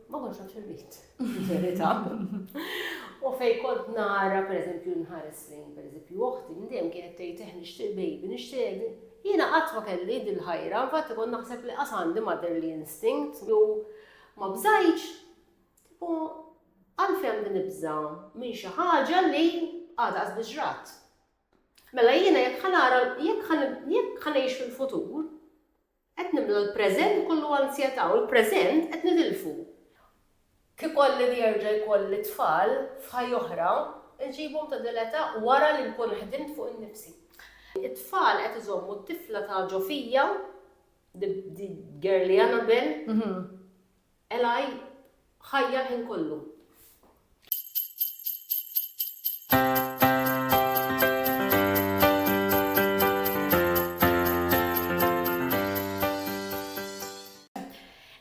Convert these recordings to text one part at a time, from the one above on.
Ma konx nafx irrid, verità. U fej kont nara, per eżempju, nħares lejn, per eżempju, oħti, ndem kienet tgħid eh nixtieq baby, nixtieq. Jiena qatt ma kelli dil-ħajra, infatti kont naħseb li qas għandi motherly instinct u ma bżajċ. U għalfem din ibża minn xi ħaġa li għadha qas biġrat. Mela jiena jekk ħanara, jekk ħanejx fil-futur, Qed nimlew il-preżent ikollu anzjetà u l-preżent qed nitilfu. Kieku Alla jerġa' jkolli tfal f'ħajja oħra, inġibhom ta' din l-età wara li nkun ħdimt fuq innifsi. It-tfal qed iżommu t-tifla ta' ġo fija, the girly Annabelle. Eli, Ħajja l-ħin kollu.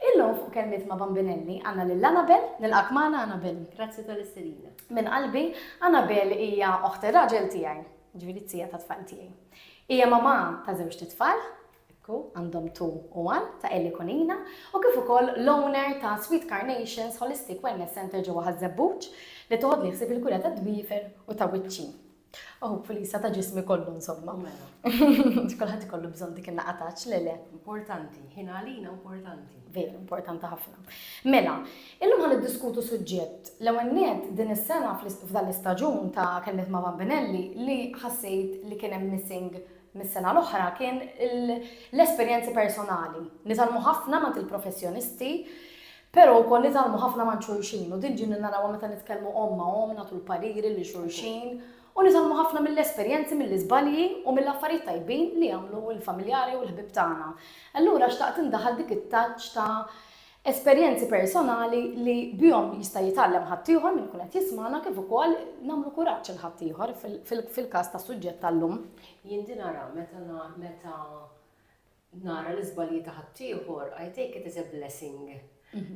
Illum fuq Kelmiet ma' Bambinelli għandna lil Anabel, nilqgħek magħna Anabel. Grazzi tal-istedina. Minn qalbi, Anabel hija oħt ir-raġel tiegħi, jiġifieri t-tija tat-tfal tiegħi. Hija mamà ta' żewġt itfal, Ekku, għandhom two u one ta' Ellie Conina u kif ukoll l-owner ta' Sweet Carnations Holistic Wellness Centre ġewwa Ħaż-Żebbuġ li toħodni ħsieb il-kura tad-dwiefer u ta' wiċċi. U hopefully sa ta' ġismi kollu insomma. Mela. Kulħadd ikollu bżonn dik in-naqgħa touch, le le. Importanti, ħin għalina importanti. Veru, importanti ħafna. Mela, illum ħa niddiskutu suġġett. L-ewwel nett din is-sena f'dan l-istaġun ta' Kelmiet ma' Bambinelli li ħassejt li kien hemm missing mis-sena l-oħra kien l-esperjenzi personali. Nitgħallmu ħafna m'għand il-professjonisti, però wkoll nitgħallmu ħafna m'għand xulxin u din ġieli narawha meta nitkellmu omm ma' omm, nagħtu l-pariri lil xulxin u nitgħallmu ħafna mill-esperjenzi, mill-iżbalji u mill-affarijiet tajbin li jagħmlu l-familjari u l-ħbieb tagħna. Allura xtaqt indaħħal dik it-touch ta' esperjenzi personali li bihom jista' jitgħallem ħaddieħor min ikun qed jismagħna kif ukoll nagħmlu kuraġġ lil ħaddieħor fil-każ tas-suġġett tal-lum. Jien din ara meta meta nara l-iżbalji ta' ħaddieħor, I take it as a blessing.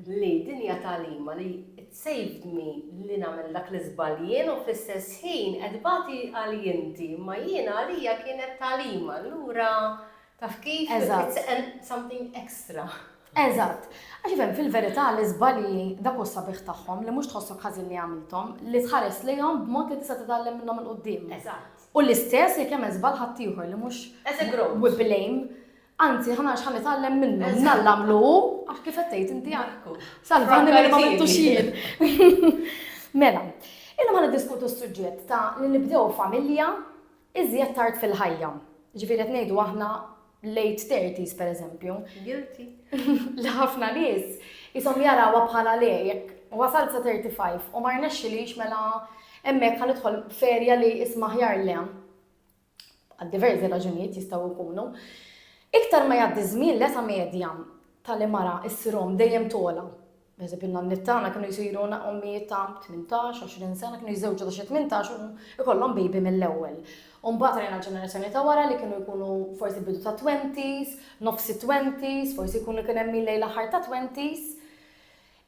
Li din hija tagħlima li tsejvni li nagħmel dak l-iżball jien u fl-istess ħin qed bagħti għalji inti, imma jiena għalija kienet tagħlima. Allura Taf kif? Eżatt. Tseqen something extra. Eżatt. Għax ifhem, fil-verità l-iżbalji dak hu s-sabiħ tagħhom li mhux tħossok ħażin li għamilthom, li tħares lejhom b'mod li tista' titgħallem minnhom 'il quddiem. Eżatt. U l-istess jekk jagħmel żball ħaddieħor li mhux As a growth. we blame, anzi ħa nara x'ħa nitgħallem minnu. Eżatt. Nalla għamlu hu għax kif qed tgħid inti għad Ekku. salvani milli ma għamiltux jien. Mela, illum ħa niddiskutu s-suġġett ta' li nibdew familja Iżjed tard fil-ħajja, jiġifieri qed ngħidu aħna late thirties pereżempju. Guilty. Li ħafna nies ishom jarawha bħala le jekk wasalt sa 35 u ma rnexxilix mela hemmhekk ħa nidħol ferja li isma' ħjar le. Għad diversi raġunijiet jistgħu jkunu. Iktar ma jgħaddi żmien l-età medja tal-imara issirhom dejjem tola. Naħseb in-nanniet tagħna kienu jsiru ommijiet ta' 18, 20 sena, kienu jiżżewġu ta' xi 18 u ikollhom baby mill-ewwel. U mbagħad rajna l-ġenerazzjoni ta' wara li kienu jkunu forsi bidu ta' 20s, nofsi 20s, forsi jkunu kien hemm lejn l-aħħar ta' 20s.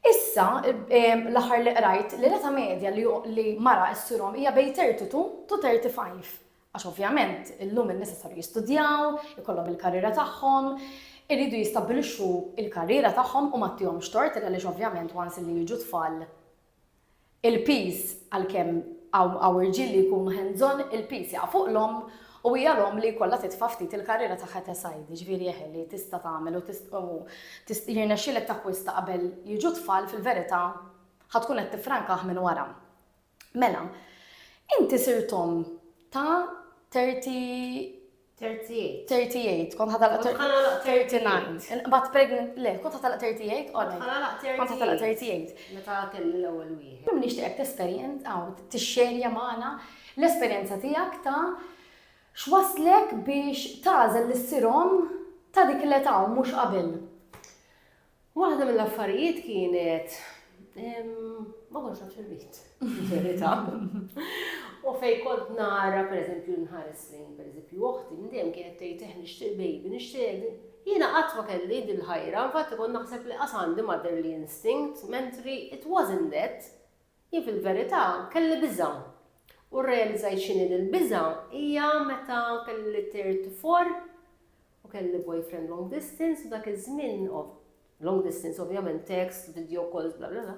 Issa, l-aħħar li qrajt, li l-età medja li mara issurhom hija bejn 32 to 35. Għax ovvjament illum in-nisa saru jistudjaw, ikollhom il-karriera tagħhom, iridu jistabbilixxu l-karriera tagħhom u ma ttihomx tort għaliex ovvjament once li jiġu tfal il-piż għalkemm hawn irġiel li jkunu hands on il-piż jaqa' fuq l-omm u hija l-omm li jkollha titfa' ftit il-karriera tagħha ta' sajd, jiġifieri eħe li tista' tagħmel u jirnexxilek takkwista qabel jiġu tfal fil-verità ħa tkun qed tifrankah minn wara. Mela, inti sirt omm ta' 30 38. 38, kont ħatalaq 39. Inqbad pregnant, le, kont ħatalaq 38, għolli. Kont ħatalaq 38. Meta kelli l-ewwel wieħed. Kim nixtieqek tesperjenz għaw tixxerja magħna l-esperjenza tiegħek ta' x'waslek biex tagħżel lis-sirhom ta' dik l-età u mhux qabel. Waħda mill-affarijiet kienet ma kontx naf xirrit, verità. U fej kont nara, per eżempju, nħares lejn, per eżempju, uħti, ndem kienet tgħid eħ nixtieq baby, nixtieq. Jiena qatt ma kelli din ħajra, infatti kont naħseb li qas għandi motherly instinct, mentri it wasn't that. Jien fil-verità kelli biża', u rrealizzajt x'inhi dil-biża' hija meta kelli tir tifor u kelli boyfriend long distance u dak iż-żmien of long distance ovvjament text, video calls bla bla bla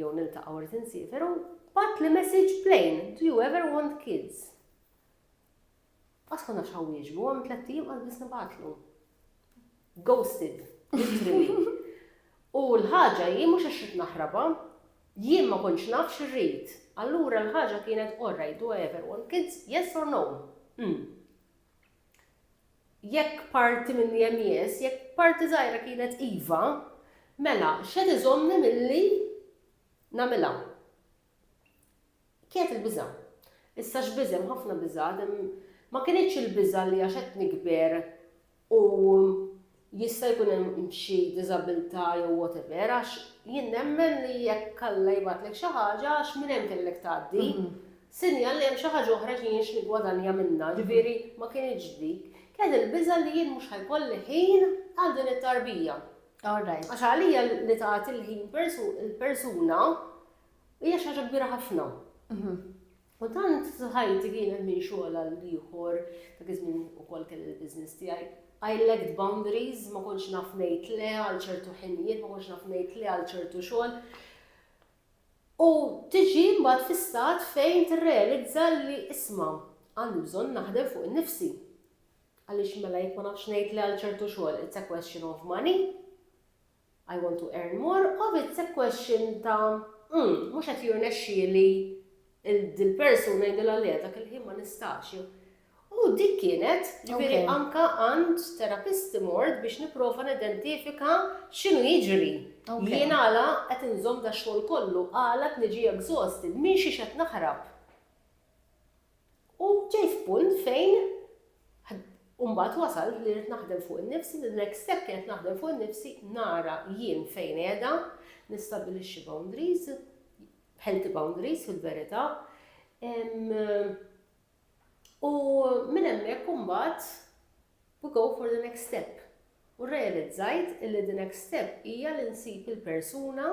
jew niltaqgħu irid insiefer u bagħatli message plain, do you ever want kids? Qatt ma nafx ħawwieġbu, hemm tlett ijiem qatt biss nibgħatlu. Ghosted, literally. U l-ħaġa hi mhux għax rid naħrabha, jien ma kontx naf x'irrid. Allura l-ħaġa kienet all right, do I ever want kids? Yes or no? Hm. Jekk parti minni hemm yes, jekk parti żgħira kienet iva, mela x'qed iżommni milli nagħmilha? Kienet il-biża'. Issa x'biża' hemm ħafna biżgħat, hemm ma kinitx il-biża' li għax qed nikber u jista' jkun hemm xi diżabilità jew whatever għax jien nemmen li jekk Alla jibgħatlek xi ħaġa għax minn hemm kellek tgħaddi, sinjal li hemm xi ħaġa oħra li jien x'niggwadanja minnha, ġifieri ma kinitx dik. Kienet il-biża' li jien mhux ħa jkolli ħin għal din it-tarbija. Għax għalija li tagħti l-ħin il-persuna Hija xi ħaġa kbira ħafna. U tant ħajti kienet minn xogħol għal ieħor, dak iż-żmien ukoll kelli l-business tiegħi. I lacked boundaries, ma kontx naf ngħid le għal ċertu ħinijiet, ma kontx naf ngħid le għal ċertu xogħol. U tiġi mbagħad fi stat fejn tirrealizza li isma' għandi bżonn naħdem fuq innifsi. Għaliex mela jekk ma nafx ngħid li għal ċertu xogħol it's a question of money. I want to earn more of it's a question ta' mm, mhux qed jirnexxieli dil-persuna jgħidilha le dak il-ħin ma nistax. U dik kienet, ġifieri anka għand terapisti mort biex nipprova nidentifika x'inhu jiġri. Jien għala qed inżomm da xogħol kollu, għala qed niġi exhausted, minn xi qed naħrab. U ġej f'punt fejn u mbagħad wasalt li rrid naħdem fuq innifsi, the next step kienet naħdem fuq innifsi, nara jien fejn qiegħda, nistabbilixxi boundaries, healthy boundaries fil-verità. U minn hemmhekk imbagħad we go for the next step. U realizzajt illi the next step hija li nsib il-persuna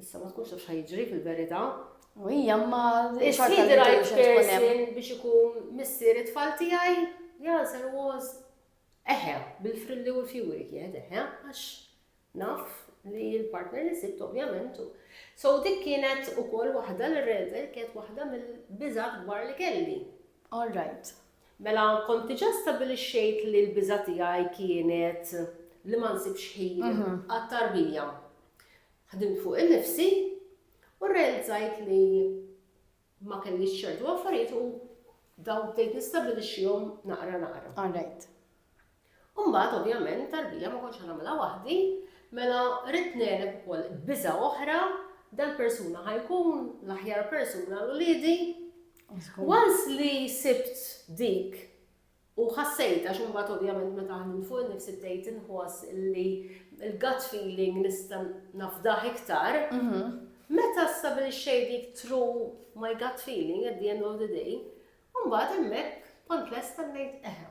Issa ma tkunx taf xa jiġri fil-verità. U hija ma Is-sidi rajt person biex ikun missier it-tfal tiegħi, the answer was eħe, bil-frilli u l-fjuri kien eħe, għax naf li l-partner li sibt ovvjament. So dik kienet ukoll waħda li rreżel kienet waħda mill-biżat kbar li kelli. All right. Mela kont diġà stabbilixxejt li l-biża' tiegħi kienet li ma nsibx ħin għat-tarbija. Ħdimt fuq innifsi u rrealizzajt li ma kellix ċertu affarijiet u dawn bdejt nistabbilixxihom naqra naqra. All right. U mbagħad ovvjament it-tarbija ma kontx ħa nagħmilha waħdi, mela ridt ngħeleb ukoll biża' oħra, dal-persuna ħa jkun l-aħjar persuna għal uliedi. Once li sibt dik u ħassejta xi mbagħad ovvjament meta ħnim fuq innifsi bdejt inħoss li l-gut feeling nista' nafdaħ iktar, mhm. meta stabilixxej dik true my gut feeling at the end of the day, mbagħad hemmhekk kont lesta ngħid eħe.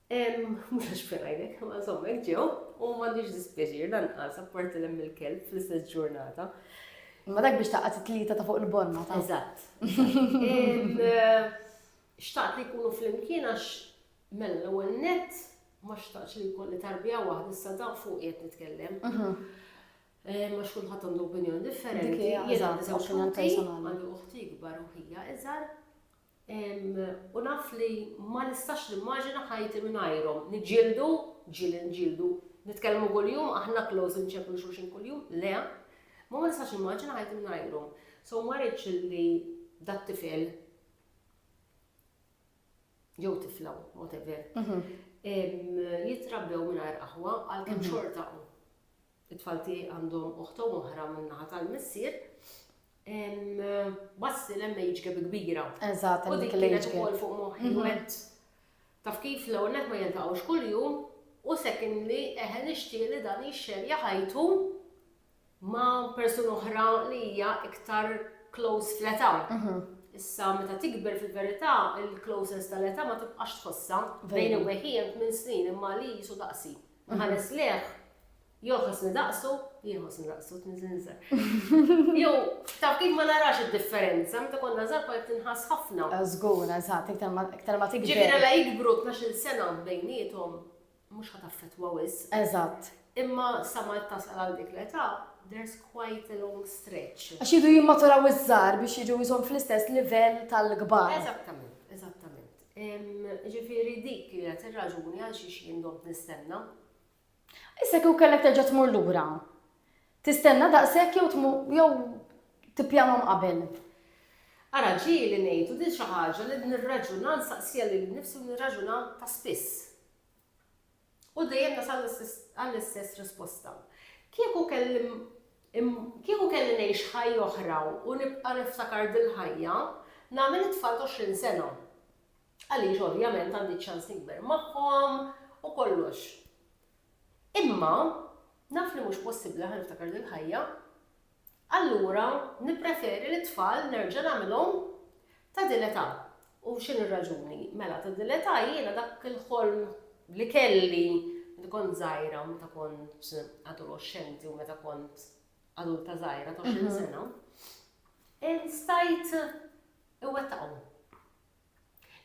Mhux għax f'għidek, ma insomma hekk ġew, u m'għandix dispjaċir lanqas apparti l il-kelb fl-istess ġurnata. Ma dak biex taqgħod it-tlieta ta' fuq il-bonna ta' eżatt. Xtaqt li jkunu flimkien għax mela l-ewwel net ma xtaqx li jkolli tarbija waħda issa dan fuq qed nitkellem. Mhm. Eh, ma xkun ħadd għandu opinjoni differenti. Jiena żewġ għandi uħti kbar u ħija iżgħar u naf li ma nistax nimmaġina ħajti mingħajrhom. Niġġieldu? Ġieli nġieldu. Nitkellmu kuljum? Aħna close inċeppru lil xulxin kuljum? Le. Imma ma nistax nimmaġina ħajti mingħajrhom. So ma rridx li dat-tifel jew tifla, whatever, jitrabbew mingħajr aħwa għalkemm xorta It-tfal tiegħi għandhom oħt u oħra min-naħa tal-missier. Bassi l age gap kbira. Eżatt, u dik kienet ukoll fuq moħħi mhm. wet. Taf kif l-ewwel net ma jiltaqgħux kuljum u secondly eħe nixtieq li dan jixxer jaħajtu ma' persuna oħra li hija iktar close fl-età. Mhm. Issa meta tikber fil-verità, il-closeness tal-età ma tibqax tħossha bejn u weħien minn snin imma li jisu daqsi. Nħares lejh, jew ħossni daqsu, jew ħossni daqsu tniżinżel. Jew taf kif ma narax id-differenza, meta konna żgħar kont tinħass ħafna. Żgur, eżatt, iktar ma iktar ma tikber. Ġifieri la jikbru 12 sena bejniethom mhux ħa taffettwa wis. Eżatt. Imma sa ma tasal għal dik l-età, there's quite a long stretch. Għax jidu jimmaturaw iż-żgħar biex jiġu jżomm fl-istess livell tal-kbar. Eżattament, eżattament. Jiġifieri dik kienet ir-raġuni għalxiex jien domt nistenna. Issa kieku kellek terġa' tmur lura, tistenna daqshekk jew tmur jew tippjanhom qabel? Ara, ġieli ngħid u din xi ħaġa li nirraġuna, nsaqsiha lili nnifsi u nirraġuna ta' spiss. U dejjem nasal għall-istess risposta. Kieku kelli kieku kelli ngħix ħajja oħra u nibqa' niftakar dil-ħajja, nagħmel it-tfal t'għoxrin sena. Għaliex ovvjament għandi ċ-ċans nikber magħhom u kollox. Imma naf li mhux possibbli ħa niftakar dil-ħajja. Allura nippreferi li t-tfal nerġa' nagħmilhom ta' din l-età. U x'inhi r-raġuni? Mela ta' din l-età jiena dak il-ħolm li kelli meta kont żgħira, meta kont adoloxxenti u meta kont adulta żgħira ta' 20 sena, stajt iwettaqhom.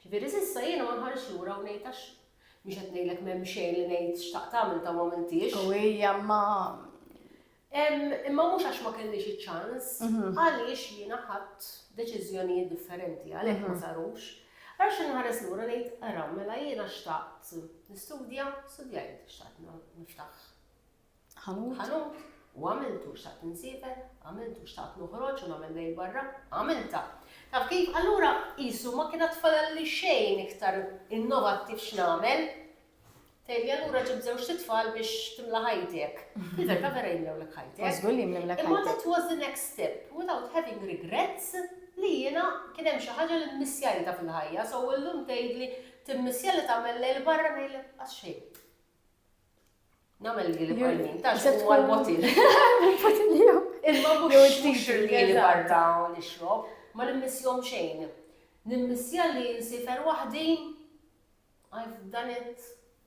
Ġifieri s'issa jiena ma nħarisx lura u ngħid għax mhux qed ngħidlek m'hemm xejn li ngħid x'taqt tagħmel ta' u m'għamiltiex. U hija ma Imma mhux għax ma kellix iċ-ċans, mhm. għaliex jiena ħadd deċiżjonijiet differenti għalhekk ma mhm. sarux. Għax inħares lura ngħid ara mela jiena xtaqt nistudja, studjajt, xtaqt niftaħ ħanut. ħanut, u għamiltu, xtaqt insiefer, għamiltu, xtaqt noħroġ u nagħmel lejl barra, għamiltha. Taf kif? Allura qisu ma kien għad li xejn iktar innovattiv x'nagħmel. Tejli allura ġib żewġ titfal biex timla ħajtek. Il-verta vera jimlewlek ħajtek. Imma that was the next step without having regrets li jiena kien hemm xi ħaġa li mmissjajta fil-ħajja, so illum tgħidli timmissja li tagħmel lejl barra ngħidlek għax xejn. Namel li li barnin, ta' xo għal botil. Imma mux t-tixir li li barra u li xrob, ma nimmissjom xejn. Nimmissja li nsifer wahdi, I've done it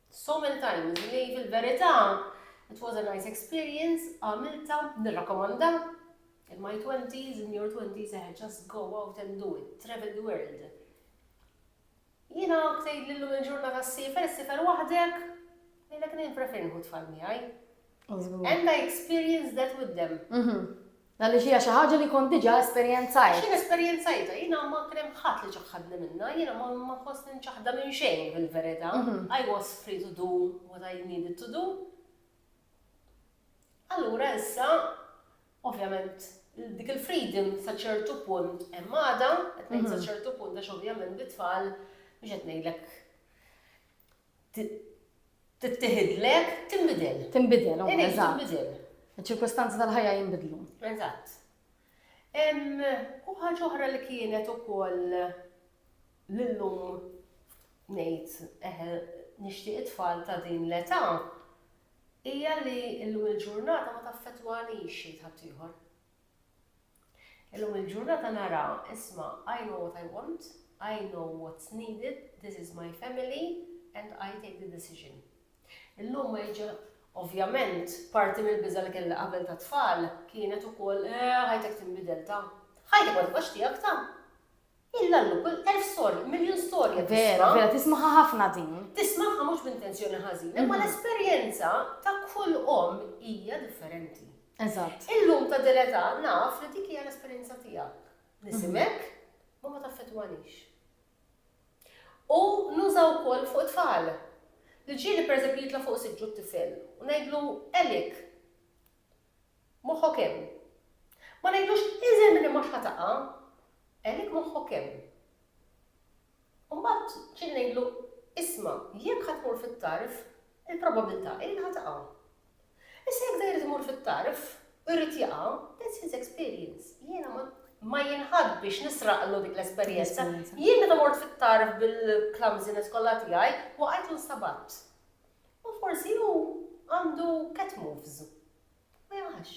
so many times, li fil-verita, it was a nice experience, għamilta, nirrakomanda, in my 20s, in your 20s, eh, just go out and do it, travel the world. Jiena tgħidli llum il-ġurnata ssifer, issifer waħdek? Ngħidlek li jien prefer nieħu t-tfal miegħi. And I experienced that with them. Mhm. Għaliex hija xi ħaġa li kont diġà esperjenzajt. X'in esperjenzajta, jiena ma kien hemm ħadd li ċaħħadni minnha, jiena ma ma fost inċaħda minn xejn fil-verità. Mhm. I was free to do what I needed to do. Allura issa, ovvjament, dik il-freedom sa ċertu punt hemm għada, qed ngħid sa ċertu punt għax ovvjament bit-tfal mhux qed ngħidlek tittieħidlek tinbidel. Tinbidel, u eżatt. Tinbidel. Iċ-ċirkostanzi tal-ħajja jinbidlu. Eżatt. U ħaġa oħra li kienet ukoll L-illum ngħid eħe nixtieq it-tfal ta' din l-età hija li llum il-ġurnata ma taffettwanix xejn ħaddieħor. Illum il-ġurnata nara isma' I know what I want, I know what's needed, this is my family and I take the decision. Illum ma jiġi Ovvjament, parti mill-biża li kelli qabel ta' tfal kienet ukoll eh, ħajtek tinbidel ta'. Ħajtek ma tibqax tiegħek ta'. Illallu kull elf storja, miljun storja tisma'. Vera, vera, tismagħha ħafna din. Tismagħha mhux b'intenzjoni ħażina, imma l-esperjenza ta' kull omm hija differenti. Eżatt. Illum ta' din l-età naf li dik hija l-esperjenza tiegħek. Nisimek, ma ma taffettwanix. U nuża wkoll fuq tfal. L-ġieli pereżempju jitla' fuq siġġu t-tifel u ngħidlu elik. Moħħok hemm. Ma ngħidlux iżel milli mhux ħa taqa', għalik moħħok hemm. U mbagħad ġieli ngħidlu, isma' jekk ħa tmur fit-tarf, il-probabbiltà hi li ħa taqa'. Issa jekk dan irid imur fit-tarf u jrid jaqa', that's his experience. Jiena ma ma jinħadd biex nisraqlu dik l-esperjenza. Jien meta mort fit-tarf bil-clumsiness kollha tiegħi, waqajt u nsabatt. U forsi hu għandu cat moves. Ma jaqax.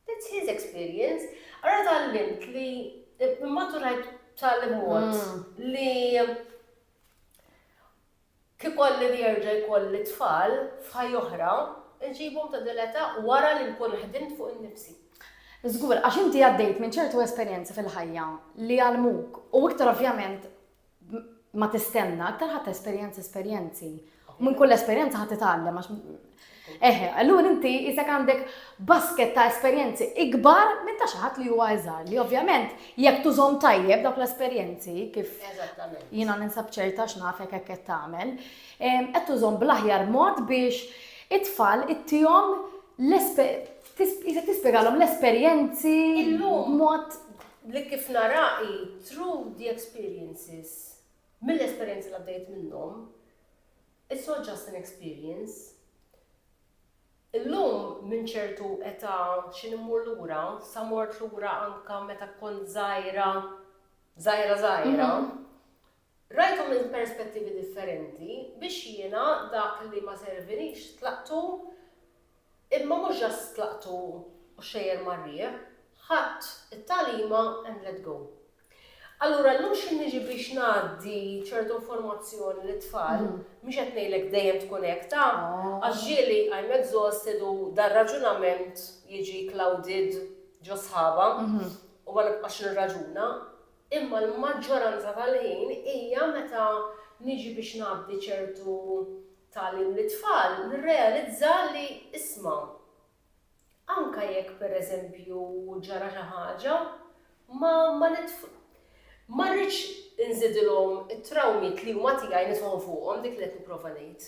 That's his experience. Ara tgħallimt li immaturajt b'tali mod li kif ikolli nerġa' jkolli tfal f'ħajja oħra, inġibhom ta' din l-età wara li nkun ħdimt fuq innifsi. Żgur, għax inti għaddejt minn ċertu esperjenzi fil-ħajja li għallmuk u iktar ovvjament ma tistenna, aktar ħadd esperjenzi esperjenzi. U minn kull esperjenza ħadd titgħallem għax Eħe, allura inti isek għandek basket ta' esperjenzi ikbar minn ta' xaħat li huwa iżgħar li ovvjament jekk tużhom tajjeb dawk l-esperjenzi kif jiena ninsab ċerta x'nafek hekk qed tagħmel, qed tużhom bl-aħjar mod biex it-tfal ittihom l-esperjenzi. Tispjegalhom l-esperjenzi mod li kif nara hi through the experiences, mill-esperjenzi li għaddejt minnhom, it's not just an experience. Illum minn ċertu età xi immur lura, sa mort lura anke meta kont żgħira, żgħira żgħira, Rajthom minn perspettivi differenti biex jiena dak li ma servinix tlaqtu imma mhux just tlaqtu u xejjer mar-riħ, ħadt it-tagħlima and let go. Allura llum x'in niġi biex ngħaddi ċertu informazzjoni lit-tfal, mhux qed ngħidlek dejjem tkun hekk ta' għax ġieli I'm exhausted u dar-raġunament jiġi clouded ġo sħabha u ma nibqax nirraġuna, Imma l-maġġoranza tal-ħin hija meta niġi biex ngħaddi ċertu tagħlim lit-tfal nirrealizza li isma', anke jekk per eżempju ġara xi ħaġa, ma ma ma rridx inżidilhom it-trawmiet li huma tiegħi nitħu fuqhom, dik li qed nipprova ngħid.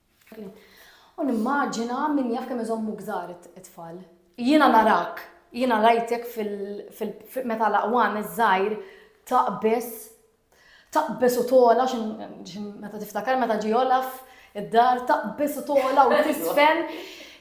U nimmaġina min jaf kemm iżommuk żgħar it-tfal. Jiena narak, jiena rajtek meta l-aqwan iż-żgħir taqbeż, taqbeż u togħla xi meta tiftakar meta ġie Olaf id-dar taqbeż u togħla u tiżfen.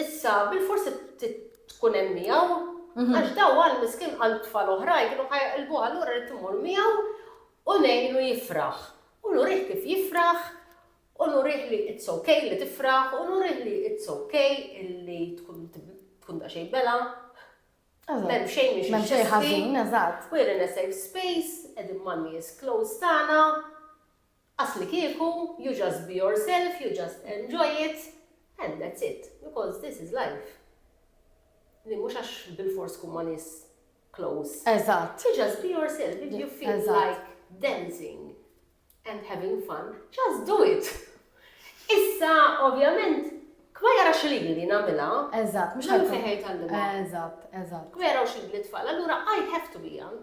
Issa, bilfors tkun hemm miegħu, għax daw għal miskin għal tfal oħrajn kienu ħajqilbuh allura rrid immur miegħu u ngħinu jifraħ. U nurih kif jifraħ, u nurih li it's okay li tifraħ, u nurih li it's okay illi tkun tkun da xejn bela. Mem xejn biex Mem xejn ħażin, eżatt. We're in a safe space, qegħdin man nies close tagħna. Aslikieku you just be yourself, you just enjoy it and that's it because this is life. Li mhux għax bilfors tkun ma' nies close. Eżatt. You just be yourself, if you feel like dancing and having fun, just do it. Issa, ovvjament, Kwa jara xilili li namela. Eżat, mux għal fejħej tal-lima. Eżat, eżat. Kwa jara xilili li tfal, allura I have to be young.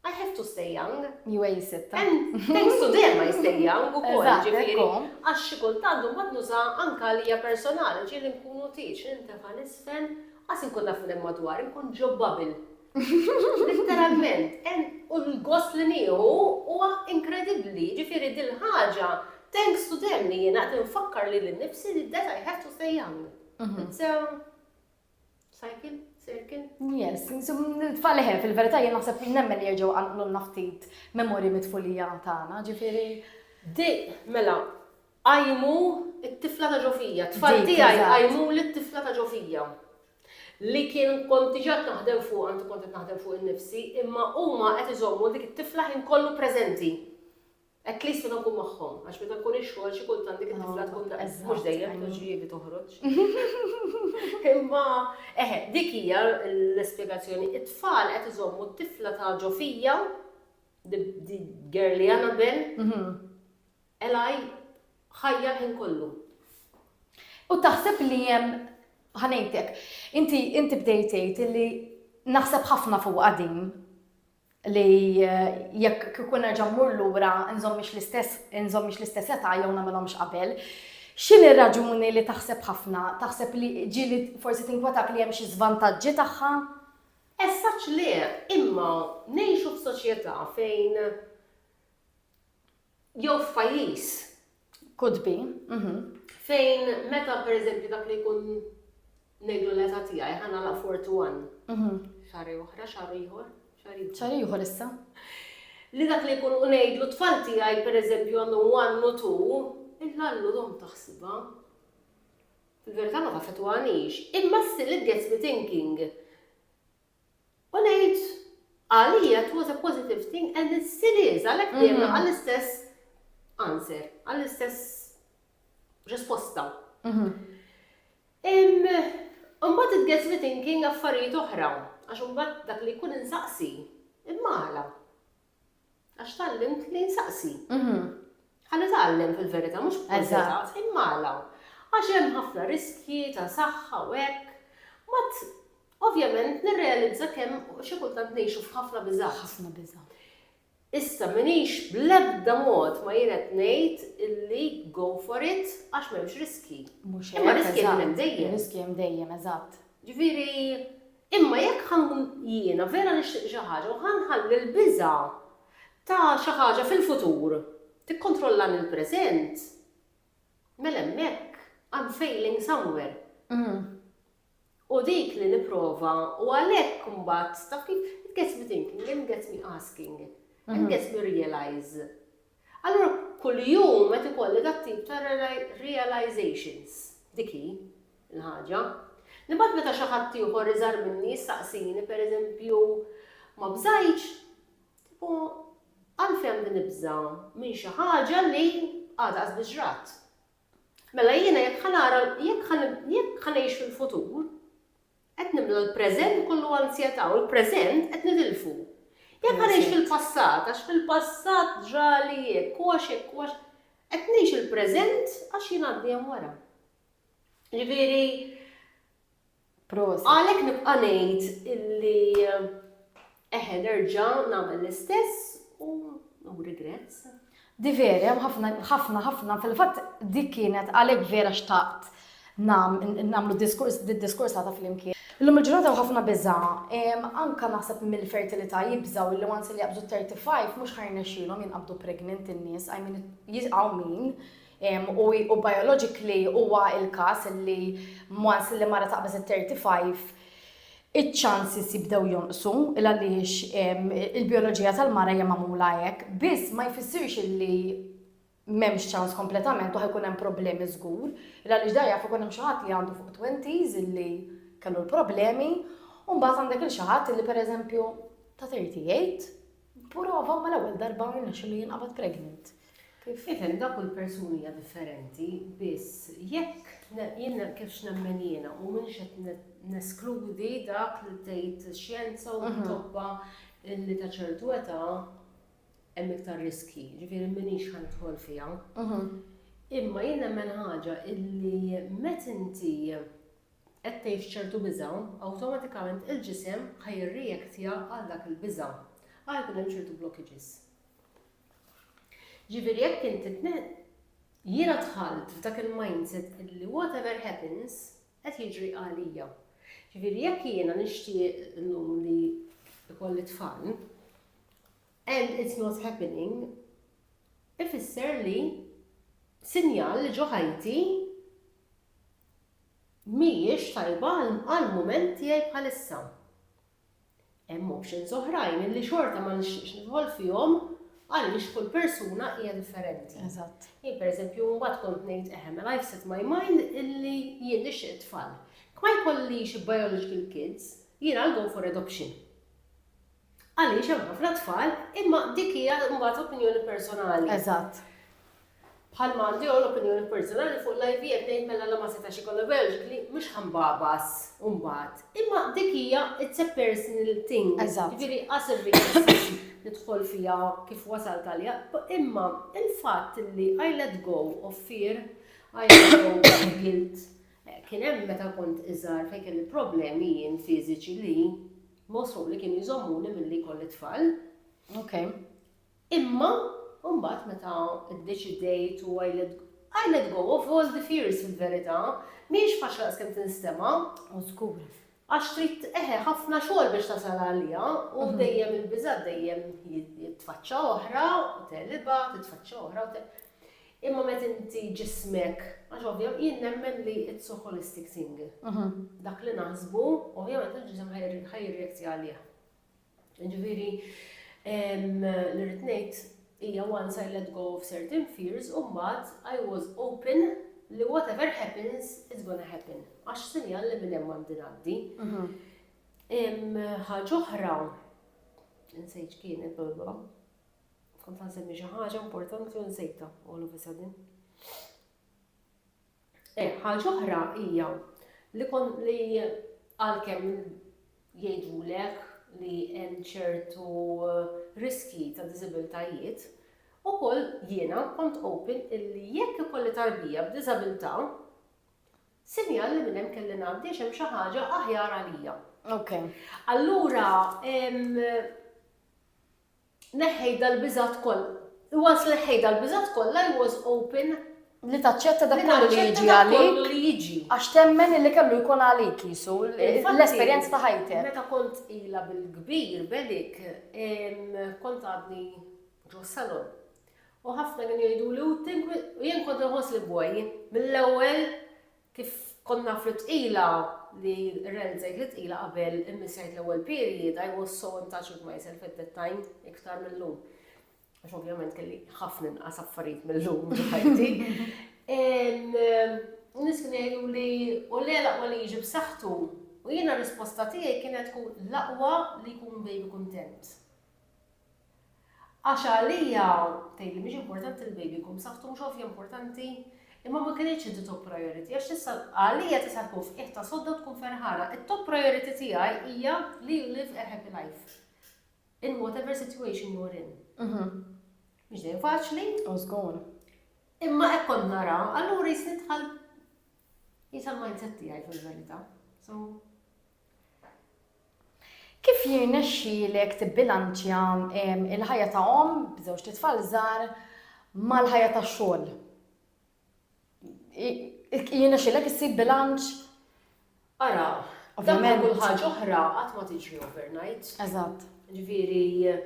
I have to stay young. Ju għej sitta. And thanks to them I stay young u kol ġifiri. Għax xikultant un bad nuza anka li hija personali ġili nkunu tiċ nintefa nisfen għas nkun naf minn madwar nkun ġo babil. Literalment, u l-gost li nieħu huwa inkredibbli, ġifiri dil-ħaġa, thanks to them li jena tinfakkar li l-nifsi li that I have to stay young. Mhm. It's a Cycle? Circle? Yes, tfal leħe, fil-verità jien naħseb li nemmen li jerġgħu għanqlu naftit memorji mitfulija tagħna, ġifieri. Di, mela, għajmu it-tifla ta' ġofija, tfal tiegħi għajmu l-tifla ta' ġofija li kien konti ġat naħdem fuq, għanti konti naħdem fuq il-nifsi, imma huma qed iżommu dik it-tifla ħin kollu preżenti. At least meta nkun magħhom, għax meta nkun ix-xogħol xi kultant dik it-tifla tkun ta' mhux dejjem tkun xi li toħroġ. Imma eħe, dik hija l-ispjegazzjoni. It-tfal qed iżommu t-tifla ta' ġo fija, di girly Annabel, Eli ħajja l-ħin kollu. U taħseb li hemm ħanejtek, inti bdejt tgħid li naħseb ħafna fuq din li jekk kieku nerġa' mmur lura nżommhiex l-istess nżommhiex l-istess età jew nagħmilhomx qabel. X'inhi r-raġuni li taħseb ħafna? Taħseb li ġieli forsi tinkwetak li hemm xi żvantaġġi tagħha? As such le, imma ngħixu f'soċjetà fejn Jew f'pajjiż. Could be, mhm. Fejn meta pereżempju dak li jkun ngħidlu l-età tiegħi ħa nagħlaq 41. Mhm. Xahar oħra, xahar ieħor, xahar ieħor. Xahar ieħor issa. Li dak li jkun ngħidlu tfal tiegħi pereżempju għandhom one u two, il-lallu dom taħsibha. Fil-verità ma tafetwanix, imma still it gets me thinking. U ngħid, għalija it was a positive thing and it still is, għalhekk dejjem nagħqa l-istess answer, għall-istess risposta. Imbagħad it gets me thinking affarijiet oħra, għax imbagħad dak li jkun insaqsi, imma għala? Għax tgħallimt li nsaqsi. Bħal li tgħallem fil-verità mhux b'kurżità, imma għala? Għax hemm ħafna riskji ta' saħħa u hekk. Mbagħad ovvjament nirrealizza kemm xi kultant ngħixu f'ħafna biżgħat. Ħafna biża'. Issa m'iniex bl-ebda mod ma jien qed ngħid illi go for it għax m'hemmx riskji. Mhux hekk. Imma riskji qegħdin hemm dejjem. Riskji hemm dejjem, eżatt. Ġifieri Imma jekk ħa nkun jiena vera nixtieq xi ħaġa u ħa nħalli l-biża' ta' xi ħaġa fil-futur tikkontrollani l-preżent, mela hemmhekk I'm failing somewhere. U dik li nipprova u għalhekk imbagħad taf kif, it gets me thinking and gets me asking and gets me realise Allura kuljum qed ikolli dat-tip ta' realizations, dik hi l-ħaġa. Li mbagħad meta xi ħadd ieħor iżgħar minni jistaqsini pereżempju ma bżajtx, tipo għalfejn għandi nibża' minn xi ħaġa li għadha qas biss ġrat. Mela jiena jekk ħa nara, jekk ħa ngħix fil-futur, Qed nimlew il-preżent kollu anzjetà u l-preżent qed nitilfu. Jekk ħa ngħix fil-passat għax fil-passat ġrali hekk u għax hekk u għax, qed ngħix il-preżent għax jien għandi hemm wara. Ġifieri, għalhekk nibqa' ngħid illi Eħe, nerġa' nagħmel l-istess u no regrets. Di vera, hemm ħafna, ħafna, ħafna, fil-fatt dik kienet għalhekk vera xtaqt nagħmlu diskors, diskursata flimkien. Illum il-ġurnata u ħafna biża, anka naħseb mill-fertilità jibżgħu li once li jaqbżu 35 mhux ħajrnexxielhom jinqabdu pregnant in-nies, I mean jisqgħu min u biologically huwa l-każ li once li mara taqbeż it-thirty five iċ-chances jibdew jonqsu il għaliex il-bioloġija tal-mara hija magħmula hekk, biss ma jfissirx illi m'hemmx ċans kompletament u ħa jkun hemm problemi żgur, il għaliex dan jaf ikun hemm xi ħadd li għandu fuq twenties illi kellu l-problemi, u mbagħad għandek lil xi ħadd illi pereżempju ta' thirty eight Burova ma l-ewwel darba rnexxilu jinqabad pregnant. Kif? Ifen da kull persuni hija differenti, biss jekk jien kif x'nemmen jiena u minn xed neskludi dak li tgħid xjenza u mhm. tobba li ta' ċertu età hemm iktar riski, ġifieri minix ħanidħol fiha. Mhm. Imma jien nemmen ħaġa illi met inti qed tgħix ċertu biża', awtomatikament il-ġisem ħa jirreactja għal dak il-biża', ħa jkun hemm ċertu blockages. Ġifieri jekk inti jiena dħalt f'dak il-mindset li whatever happens qed jiġri għalija. Ġifieri jekk jiena nixtieq llum li ikolli tfal and it's not happening ifisser li sinjal li ġo ħajti mhijiex tajba għall-mument tiegħi bħalissa. Hemm options oħrajn illi xorta ma nixtieqx nidħol fihom għaliex kull persuna hija differenti. Eżatt. Jien pereżempju mbagħad kont ngħid eħe mela I've set my mind illi jien nixtieq tfal. Ma jkollix biological kids, jien I'll go for adoption. Għaliex hemm ħafna tfal, imma dik hija mbagħad opinjoni personali. Eżatt. Bħal ma għandi hawn opinjoni personali fuq l-IVF ngħid mela la ma setax ikollha biologically mhux ħambabas mbagħad. Imma dik hija it's a personal thing. Eżatt. Ġifieri qas irrid nidħol fiha kif wasalt għalija. Imma il-fatt li I let go of fear, I let go of guilt, kien hemm meta kont iżgħar fejn kelli problemi jien fiżiċi li Mosħu li kienu jżommuni milli jkolli t-tfal. Ok. Imma mbagħad meta ddeċidejt u I let I let go of all the fears fil-verità. Mhijiex faċli daqs kemm tinstema'. O żgur. Għax trid eħe ħafna xogħol biex tasal għaliha u mhm. dejjem il-biżgħat dejjem jitfaċċa oħra u telibha, titfaċċa oħra u Imma meta inti ġismek, għax ovvja, jien nemmen li it's so holistic thing. Dak li naħsbu, ovvjament il-ġisem ħa jirreact għalih. Jiġifieri li rrid ngħid hija once I let go of certain fears u mbagħad I was open li whatever happens it's gonna happen. Għax sinjal li minn hemm għandi ngħaddi. Ħaġa oħra, insejt kienet, Kont għansemmi xi ħaġa importanti u nsejta all of a sudden. Eh, ħaġa oħra hija li kon li għalkemm jgħidulek li hemm ċertu eh, riski ta' diżibiltajiet, ukoll jiena kont open illi jekk ikolli tarbija b'diżabilità, sinjal li minn hemm kelli ngħaddi hemm xi ħaġa aħjar għalija. Ok. Allura, neħħejt dal-biżgħat kollha. Once li neħħejt dal-biżgħat kollha, I was open. Li taċċetta dak kollu li jiġi għalik. Għax temmen illi kellu jkun għalik jisu, l-esperjenza ta' ħajtek. Meta kont ila bil-kbir, bedik, kont għadni ġo salon. U ħafna kien jgħidu li u jien kont nħoss li bwaj, mill-ewwel Kif konna fl-Ibtqila, li rell żejt l-Ibtqila qabel immissjajt l-ewwel period, I was so in touch with myself at that time, iktar mil-lum. Għax ovvjament kelli ħafna inqas affarijiet mil-lum ħajti. Nis kien jgħidu li u le laqwa li jiġi b'saħħtu u jiena risposta tiegħi kienet tkun laqwa li jkun baby kuntent. Għax għalija, tgħidli, mhix importanti l-baby jkun b'saħħtu, mhux ovvja importanti? Imma ma kinitx hi t-top priority, għax tista', għalija tista' tkun f'qiegħtha sodda u tkun ferħana. It-top priority tiegħi hija li you live a happy life. In whatever situation you're in. Mhix dejjem faċli. U żgur. Imma hekk kont nara, allura jis nidħal jisa l-mindset tiegħi fil-verità. So, Kif jirnexxilek tibbilanċja l-ħajja ta' omm b'żewġt itfal żgħar mal-ħajja tax-xogħol? Jirnexxilek issib bilanċ? Ara, dak ma' kull ħaġa oħra qatt ma tiġri overnight. Eżatt. Ġifieri,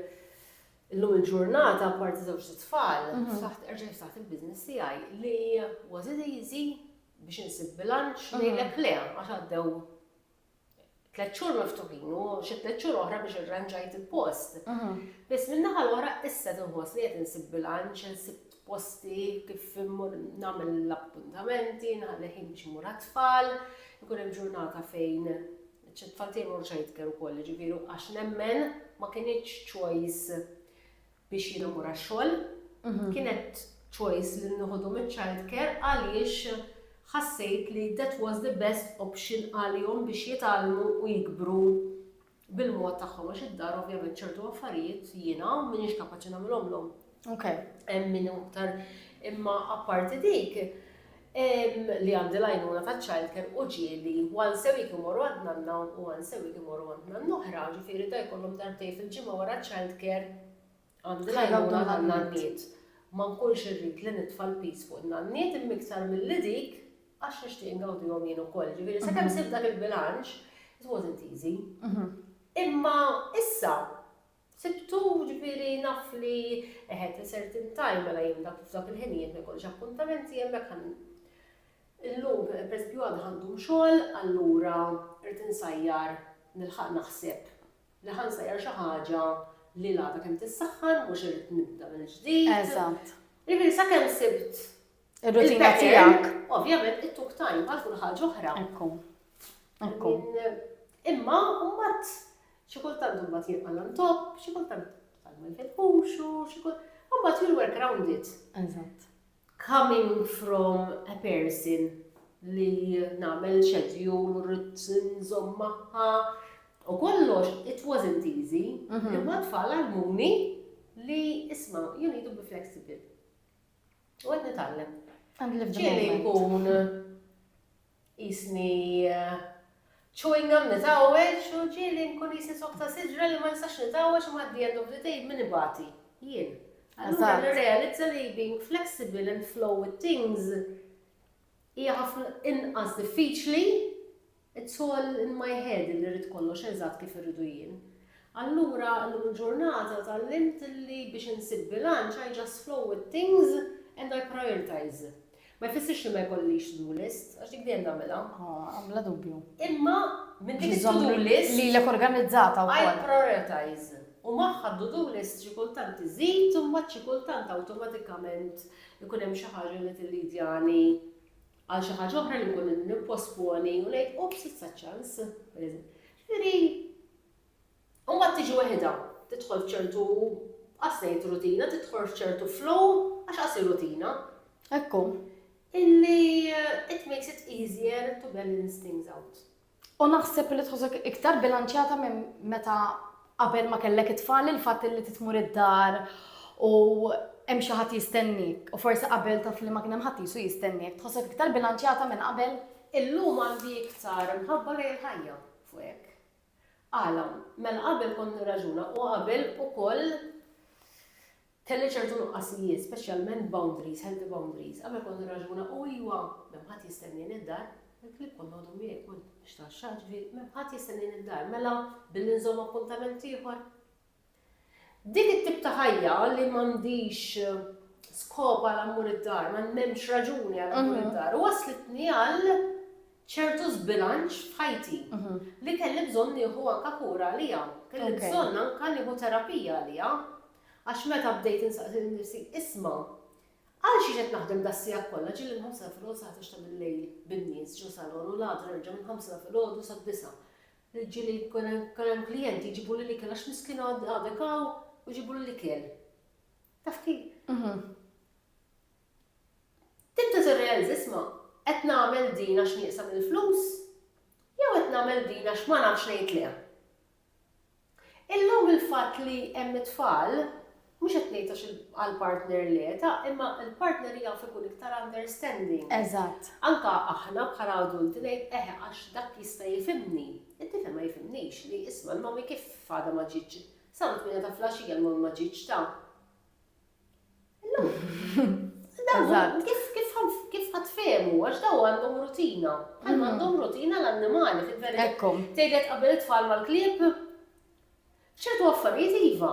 illum il-ġurnata apparti żewġt itfal, saħt erġa' jiftaħt il-business tiegħi li was it easy biex insib bilanċ ngħidlek le għax għaddew tliet xhur miftuħin u xi tliet xhur oħra biex irranġajt il-post. Mhm. Biss minn naħa l-oħra issa tinħoss li qed insib bilanċ, insib posti kif immur nagħmel l-appuntamenti, naħli ħin biex imur tfal ikun hemm ġurnata fejn ċ-tfal tiegħi mhux ħajtkellmu wkoll, ġifieri għax nemmen ma kienx choice biex jiena mmur għax-xogħol. Kienet choice li nieħodhom iċ-childcare għaliex ħassejt li that was the best option għalihom biex jitgħallmu u jikbru bil-mod tagħhom għax id-dar ovvjament ċertu affarijiet jiena m'iniex kapaċi nagħmilhomlhom. Hemm min aktar imma apparti dik li għandi l-għajnuna taċ-childcare u ġieli one se week imorru għand nanna u one se week imorru għand nanna oħra, ġifieri ta' jkollhom darbtejn fil-ġimgħa wara ċ-childcare għandi l-għajnuna tan-nanniet. Ma nkunx irrid li nitfa' l-piż fuq in-nanniet imma iktar milli dik għax nixtieq ingawdihom jien ukoll. Ġifieri sakemm sibt dak il-bilanċ, it wasn't easy. Imma issa Sibtu, ġifieri naf li eh at a certain time, mela jien dak f'dak il-ħinijiet ma jkollix appuntamenti hemmhekk ħa illum pereżempju għada ħa nqum xogħol allura rrid insajjar nilħaq naħseb li ħa nsajjar xi ħaġa li l-għada kemm tissaħħan mhux irrid nibda mill-ġdid. Eżatt. Ġifieri sakemm sibt Ir-rutina tiegħek. Ovvjament it-tuk tajn bħal kull ħaġa oħra. Ekku. Ekku. Imma mbagħad xi kultant imbagħad jirqal on top, xi kultant tagħmel fil-ħuxu, xi kultant. Mbagħad you work around it. Eżatt. Coming from a person li nagħmel schedule, rrid nżomm magħha, U kollox, it wasn't easy, mhm. imma tfal għal-muni li isma, you need to be flexible. U għed nitgħallem. Kien inkun jisni eh, chewing gum nitgħawweġ u ġieli nkun jisni sokta siġra li ma nistax nitgħawweġ ma għaddi għandu b'ditej minn ibati. Jien. Allura nirrealizza li being flexible and flow with things Hija ħafna inqas diffiċli It's all in my head illi rrid kollox eżatt kif irridu jien. Allura llum il-ġurnata tgħallimt illi biex insib bilanċ I just flow with things and I prioritize. Ma jfissirx li ma jkollix to-do list, għax dik dejjem nagħmilha. Ah, bla dubju. Imma minn dik to-do list lilek organizzata wkoll. I prioritize. U magħha to-do list xi kultant iżid u mbagħad xi kultant awtomatikament Ikun hemm xi ħaġa li tillidjani għal xi ħaġa oħra li nkun nipposponi u ngħid ups issa ċans. Ġifieri, u mbagħad tiġi weħidha, tidħol f'ċertu qasnejt rutina, tidħol f'ċertu flow għax qasi rutina. Ekku. Illi it makes it easier to balance things out. U naħseb li tħossok iktar bilanċjata minn meta qabel ma kellek it-tfal il-fatt li titmur id-dar u hemm xi ħadd jistennik u forsi qabel taf li ma kien hemm ħadd jisu jistennik. Tħossok iktar bilanċjata minn qabel? Illum għandi iktar mħabba lejn il-ħajja fuq hekk. Għala? Mela qabel kont nirraġuna u qabel ukoll Kelli ċertu nuqqasijiet, speċjalment boundaries, healthy boundaries. Qabel kont nirraġuna, u iwa, m'hemm ħadd jistennieni d-dar, il-klieb kollu għadu miegħi, kont nixtraxxaħ, ġifieri, m'hemm ħadd jistennieni d-dar, mela billi nżomm appuntament ieħor. Dik it-tip ta' ħajja li m'għandix skop għal ammur id-dar, ma m'hemmx raġuni għal ammur mhm. id-dar, waslitni għal ċertu zbilanċ f'ħajti mhm. li kelli bżonn nieħu anka kura għalija, kelli bżonn anka nieħu terapija għalija. Għax meta bdejt insaqsi lil nifsi, 'Isma', għal xiex qed naħdem das-siegħat kollha, ġieli mill-ħamsa filgħodu sa ħdax ta' bil-lejl bin-nies ġo salon u l-għada nerġa' mill-ħamsa filgħodu sad-disgħa. Ġieli jkun hemm klijenti jġibuli l-ikel għax miskina għadek hawn u jġibuli l-ikel. Taf kif? Tibda tirrealizza, 'Isma', qed nagħmel din għax nieqsa mill-flus jew qed nagħmel din għax ma nafx ngħid le? Illum il-fatt li hemm it-tfal, mhux qed ngħid għax għall-partner le, ta' imma l-partner jaf ikun iktar understanding. Eżatt. Anke aħna bħala adulti ngħid eħe għax dak jista' jifhimni, it-tifel ma jifhimnix li isma' l-mommy kif għadha ma ġietx, sa ntmiena ta' flaxija l-mommy ma ġietx ta'. Eżatt. Kif kif kif ħadd fehmu għax daw għandhom rutina. Bħalma għandhom rutina l-annimali fil-verità. Ekku. Tgħidlek qabel it-tfal mal-klieb? ċertu affarijiet iva.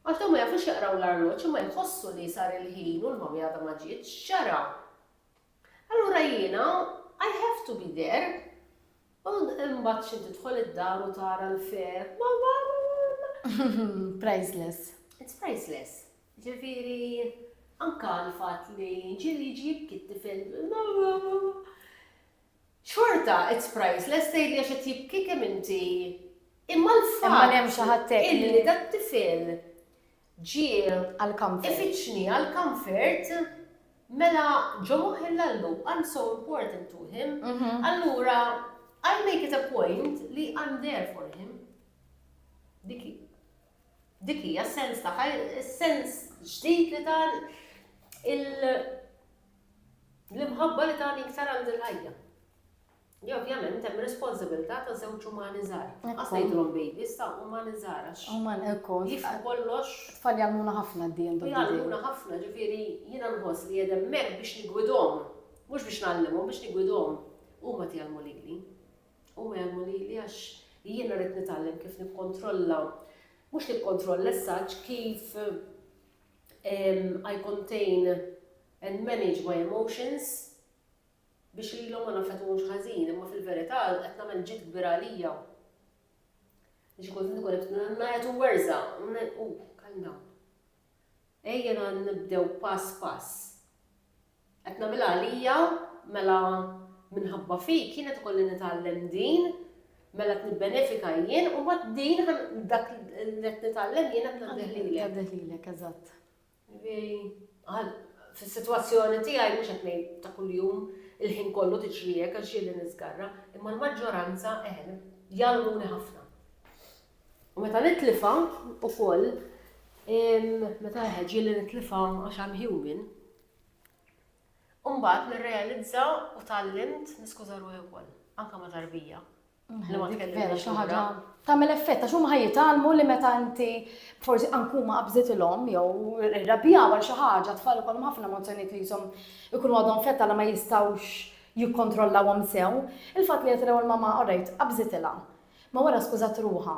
Għax daw ma jafux jaqraw l-arloġġ imma jħossu li sar il-ħin u l-mommy għadha ma ġietx, x'ġara? Allura jiena I have to be there. U imbagħad xi tidħol id-dar u tara l-feheb. Priceless. It's priceless. Ġifieri anke l-fatt li ġieli jiġi jibki t-tifel. Xorta, it's priceless, tgħidli għax qed jibki kemm inti. Imma l-fatt. Imma hemm xi ħadd Illi dat-tifel Ġiel għall-Camfert. Ifittxni għall-Camfert, mela ġo moħħi l-Allu, I'm so important to him, allura I make it a point li I'm there for him. Dik hi. Dik hija s-sens tagħha, is-sens ġdid li ta l-imħabba li tani iktar għand il-ħajja. li ovvjament hemm responsibilità ta' żewġ umani żgħar. Ma tibqax tgħidilhom babies, ta' umani żgħar għax jifhmu kollox. It-tfal jgħallmuna ħafna at the end of the day. Jgħallmuna ħafna, ġifieri jiena nħoss li qiegħed hemmhekk biex niggwidhom, mhux biex ngħallimhom, biex niggwidhom. Huma tgħallmu lili. Huma jgħallmu lili għax jiena rrid nitgħallem kif nikkontrolla, mhux nikkontrolla as such, kif I contain and manage my emotions. biex lilhom ma naffettwahomx ħażin, imma fil-verità qed nagħmel ġid kbir għalija. Li xi kultant ikun qed ngħajjat u werża' u u calm down. Ejja nibdew pass pass. Qed nagħmilha għalija, mela minħabba fik jien qed ikolli nitgħallem din, mela qed nibbenefika jien u mbagħad din dak li qed nitgħallem jien qed ngħaddih lilek. Ngħaddih lilek, eżatt. Li fis-sitwazzjoni tiegħi, mhux qed ngħid ta' kuljum, il-ħin kollu tiġri hekk għax ġieli niżgarra, imma l-maġġoranza eħe, jgħallmuni ħafna. U meta nitlifha ukoll, meta eħe ġieli nitlifha għax I'm human, u mbagħad nirrealizza u tgħallimt niskuża ruħi wkoll, anke ma' tarbija. Vera, xi ħaġa tagħmel effett għax huma ħajjitalmu li meta inti forsi ankuma qabżitilhom jew irrabjaw għal xi ħaġa tfal ikollhom ħafna emozzjonijiet li jisom ikunu għadhom fetta li ma jistgħux jikkontrollawhom sew. Il-fatt li qed l-ewwel mama orajt qabżitilha. Ma wara skużat ruħha.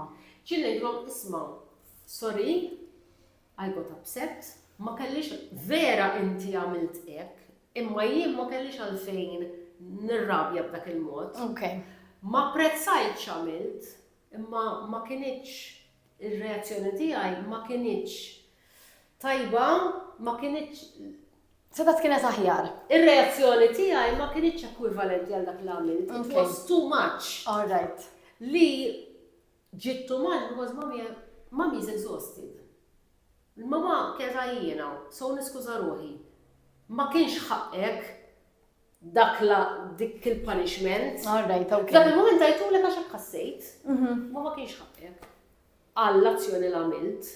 Ġilli ngħidlhom isma' sorry, I got upset, ma kellix, vera inti għamilt hekk, imma jien ma kellix għalfejn nirrabja b'dak il-mod. Ma apprezzajtx x'għamilt, imma ma kinitx ir-reazzjoni tiegħi ma kinitx tajba, ma kinitx Setat kienet aħjar. Ir-reazzjoni tiegħi ma kinitx ekwivalenti għal dak l-għamilt. It was too much. All right. Li Ġiet Tumal because Mommy Mommy is exhausted. L-Mamà kienet għajjiena, so niskuża ruħi. Ma kienx ħaqqek dak la dik il-punishment. All right, ok. F'dak il-mument għajtulek għax hekk ħassejt. Ma ma kienx ħaqqek. Għal l-azzjoni li għamilt.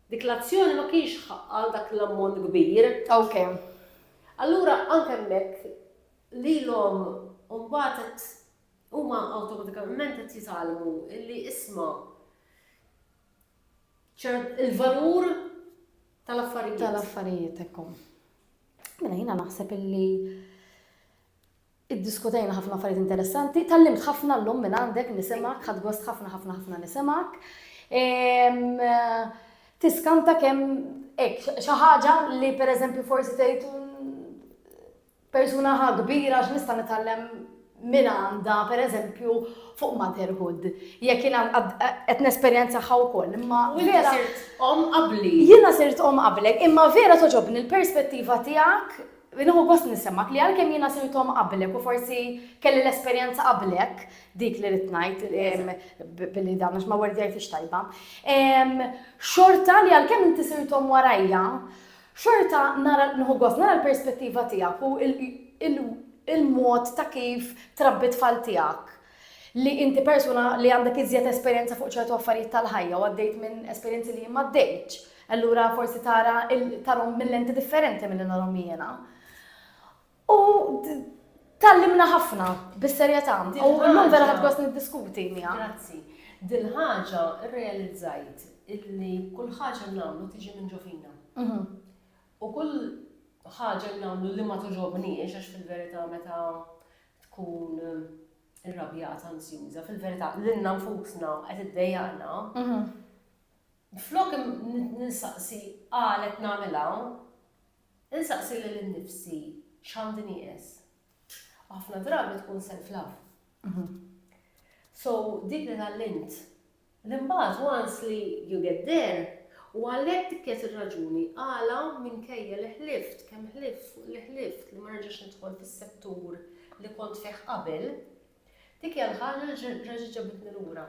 Dik l-azzjoni ma kienx ħaqqa dak l-ammont kbir. Ok. Allura anke hemmhekk lilhom mbagħad qed Huma awtomatikament qed jitgħallmu li isma' il-valur tal-affarijiet. Tal-affarijiet ekkom. Mela jiena naħseb illi iddiskutejna ħafna affarijiet interessanti, tallimt ħafna llum minn għandek nisimak, ħad gost ħafna ħafna ħafna nisimak. Tiskanta kemm hekk xi ħaġa li pereżempju forsi tgħid Persuna ħa kbira x'nista' nitgħallem minn għandha pereżempju fuq motherhood. Jekk jiena qed nesperjenzaha wkoll imma. U inti sirt omm qabli. Jiena sirt omm qablek imma vera togħġobni l-perspettiva tiegħek Nieħu gost nisimgħek li għalkemm jiena sirt omm qablek u forsi kelli l-esperjenza qablek, dik li ridt ngħid billi dan għax ma wordjajthiex tajba, xorta li għalkemm inti sirt omm warajja, Xorta nara, nieħu gost nara l-perspettiva tiegħek u l-mod ta' kif trabbi t-tfal tiegħek, li inti persuna li għandek iżjed esperjenza fuq ċertu affarijiet tal-ħajja u għaddejt minn esperjenzi li jien m'għaddejtx, allura forsi tara, tarahom minn lenti differenti milli narahom jiena. U tgħallimna ħafna, bis-serjetà, u llum vera ħadt gost niddiskuti miegħek. Grazzi. Dil-ħaġa rrealizzajt illi kull ħaġa nagħmlu tiġi minn ġo fina. Mhm. U kull ħaġa li nagħmlu li ma toġobniex għax fil-verità meta tkun irrabjat ansjuża, fil-verità lilna nfusna qed iddejjaqna. Mhm. Flok nistaqsi qalet nagħmilha, Insaqsi lil innifsi x'għandi nieqes. U ħafna drabi tkun self love. So dik li tgħallimt. Li mbagħad once li you get there, u għalhekk dik kienet ir-raġuni għala minkejja li ħlift, kemm ħlift fuq li ħlift li ma nerġax nidħol fis-settur li kont fih qabel, dik hija l-ħaġa li reġgħet ġabitni lura.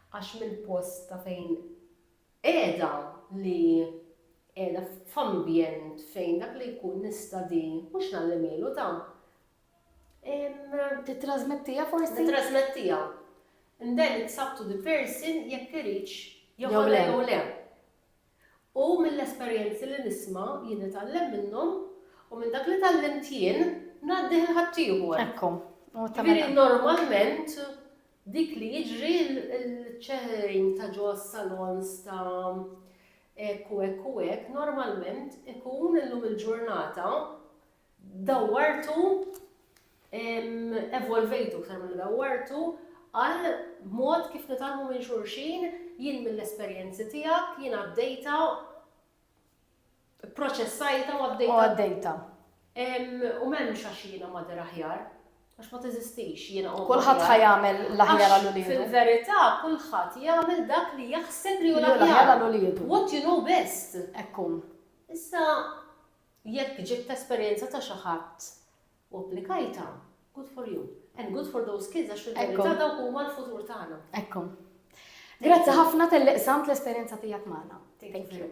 Għax mill-post ta' fejn Qiegħda li qiegħda f'ambjent fejn dak li jkun nista' di mhux ngħallimielu da. Tittrasmettiha forsi? Nittrasmettiha. And then it's up to the person jekk iridx joħodha jew le. U mill-esperjenzi li nisma' jien nitgħallem minnhom u minn dak li tgħallimt jien ngħaddih lil ħaddieħor. Ekku. Jiġifieri normalment Dik li jiġri l-ċeħrejn ta' ġo għas-salons ta' hekk u hekk u hekk normalment ikun illum il-ġurnata dawwartu evolvejtu iktar milli dawwartu għal mod kif nitgħallmu minn xulxin, jien mill-esperjenzi tiegħek, jien għaddejtha Proċessajta u għaddejta. U għaddejta. U m'hemmx għax jiena mader aħjar, għax ma teżistix jiena u. Kulħadd ħa jagħmel l-aħjar għal uliedu. Fil-verità kulħadd jagħmel dak li jaħseb li hu l-aħjar għal uliedu. What you know best. Ekkun. Issa jekk ġibt esperjenza ta' xi ħadd u applikajtha, good for you. And good for those kids għax fil-verità dawk huma l-futur tagħna. Ekku. Grazzi ħafna tal-li qsamt l-esperjenza tiegħek magħna. Thank you.